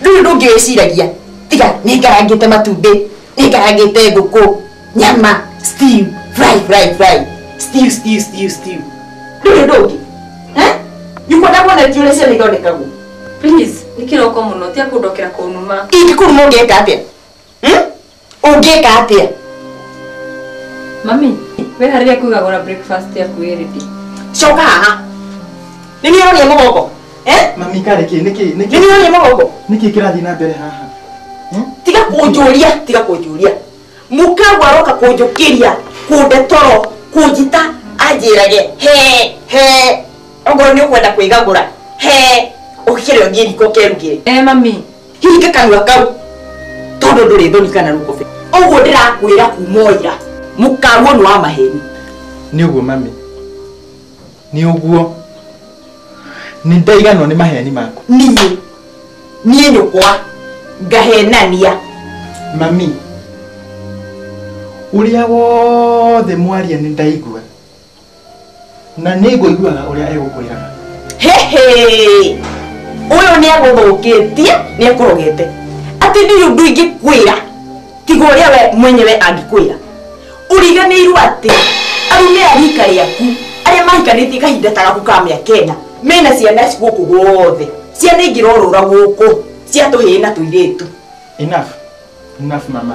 ndũrĩ ũndũ ũngĩ wĩciragia tiga nĩ ngarangĩte matumbĩ nĩ ngarangĩte ngũkũ nyama stew fry fry fry stew stew stew stew ndũrĩ ũndũ ũngĩ Eh? nyũkwa ndakuonetie ũrĩa ciana ithondekagwo Please, nĩ kĩroko mũno, tia kũndokera kũnuma. ingĩkũruma ũngĩka atĩa Ũngĩka atĩa? Mami, weharĩria kũigagũra breakfast yaku ĩ ready. Coka haha. Nĩ niĩ ũroria mũgongo? Eh? Mami karĩ kĩ nĩkĩ Nĩ nĩkĩ niĩ ũroria mũgongo? nĩkĩ kĩrathiĩ na mbere haha? tiga kũnjũria tiga kũnjũria mũkagu aroka kũnjũkĩria kũnde toro kũnjita anjĩrage he he ongorwo nĩ ũkwenda kwĩgagũra he ũkĩre ũthiĩ riko kerugĩre Eh, mami, hinga kanua kau tondu nduri thoni kana rukobe uguo ndirakwira kuma ira mukaru ni wa maheni ni uguo mami ni uguo ni ndaiganwo ni maheni maku nie nie nyukwa ngahenania mami uria wothe mwaria ni ndaigua na nĩ ngũiguaga ũrĩa egũkwĩraga hehe ũyũ nĩ agũthũkĩtie nĩ ekũrogete atĩ nĩ ũndũ ingĩkwĩra tiga ũrĩa we mwenyewe angĩkwĩra ũriganĩirwo atĩ arume a rika rĩaku arĩa mahikanĩtie kahinda ta gaku ka mĩaka ĩna mena ciana gũkũ guothe ciana ingĩrorũra gũkũ cia tũhĩĩ na tũirĩtu enough enough mama